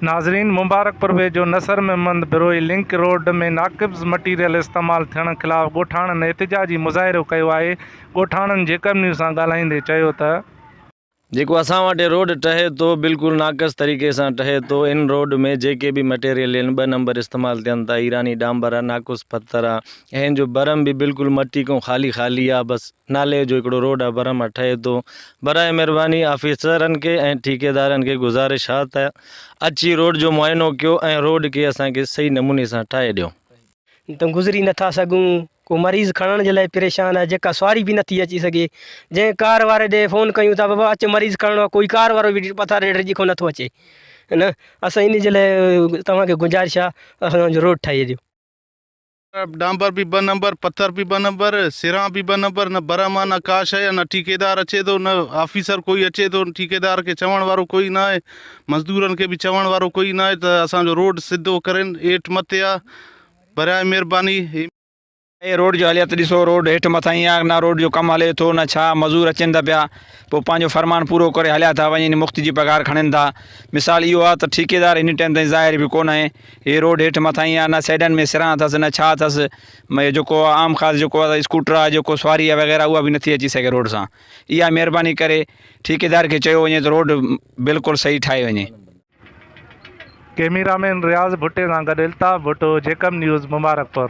ناظرين مبارڪپور ويجهو Nasr Muhammad Brohi link road ۾ ناقبض مٽيريل استعمال ٿيڻ خلاف ڳوٺاڻن احتجاجي مظاهرو ڪيو آهي ڳوٺاڻن جيڪب نيوز سان ڳالهائيندي چيو ته. جيڪو اسان وٽ روڊ ٺهي ٿو بلڪل ناقص طريقي سان ٺهي ٿو ان روڊ ۾ جيڪي به مٽيريل ان ٻه نمبر استعمال ٿين ٿا ايراني ڊانبر آ ناقص پٿر آ اين جو برم به بلڪل مٽي کان خالي خالي آ بس نالي جو هڪڙو روڊ آف برهما ٺهي ٿو برائي مهرباني آفيسرن کي ۽ ٺيڪيدارن کي گذارش آ ته اچي روڊ جو معائنو ڪيو ۽ روڊ کي اسان کي صحيح نموني سان ٺاهي ڏيو. تون گذري نٿا سگهون ڪو مريض کڻڻ جي لاء پريشان آهي جيڪا سواري به نٿي اچي سگهي جنهن ڪار واري ڏي فون ڪيون ته بابا اچ مريض کڻڻو آهي ڪوئي ڪار وارو به پٿاري ڊڄي ڪو نٿو اچي اسان ان جي لاء توهان کي گذارش آ اسان جو روڊ ٺاهي ڏيو. ڊانبر به ٻه نمبر، پٿر به ٻه نمبر، سران به ٻه نمبر، نه برهما نه ڪا شيء ۽ نه ٺيڪيدار اچي ٿو، نه آفيسر ڪوئي اچي ٿو، ٺيڪيدار کي چوڻ وارو ڪوئي ناهي، مزدورن کي به چوڻ وارو ڪوئي ناهي ته اسان جو روڊ سڌو ڪرين، ايٺ مٿي آ، برائي مهرباني. اهي روڊ جي حاليات ڏسو، روڊ هيٺ مٿاهين آ، نه روڊ جو ڪم هلي ٿو نه ڇا، مزور اچين ته پيا، پوء پنهنجو فرمان پورو ڪري هليا ٿا وڃين، مفت جي پگهار کڻين ٿا، مثال اهو آ ته ٺيڪيدار هن ٽائيم تائين ظاهر به ڪونه آهي، هي روڊ هيٺ مٿاهين آ نه سئيڊن ۾ سران اٿس نه ڇا اٿس مئي جيڪو عام خاص جيڪو آ اسڪوٽر آ جيڪو سواري آ وغيره اها به نٿي اچي سگهي روڊ سان اها مهرباني ڪري ٺيڪيدار کي چيو وڃي ته روڊ بلڪل صحيح ٺاهي وڃي. ڪيميرامين رياض ڀٽي سان گڏ الطاف ڀٽو، جيڪب نيوز، مبارڪپور.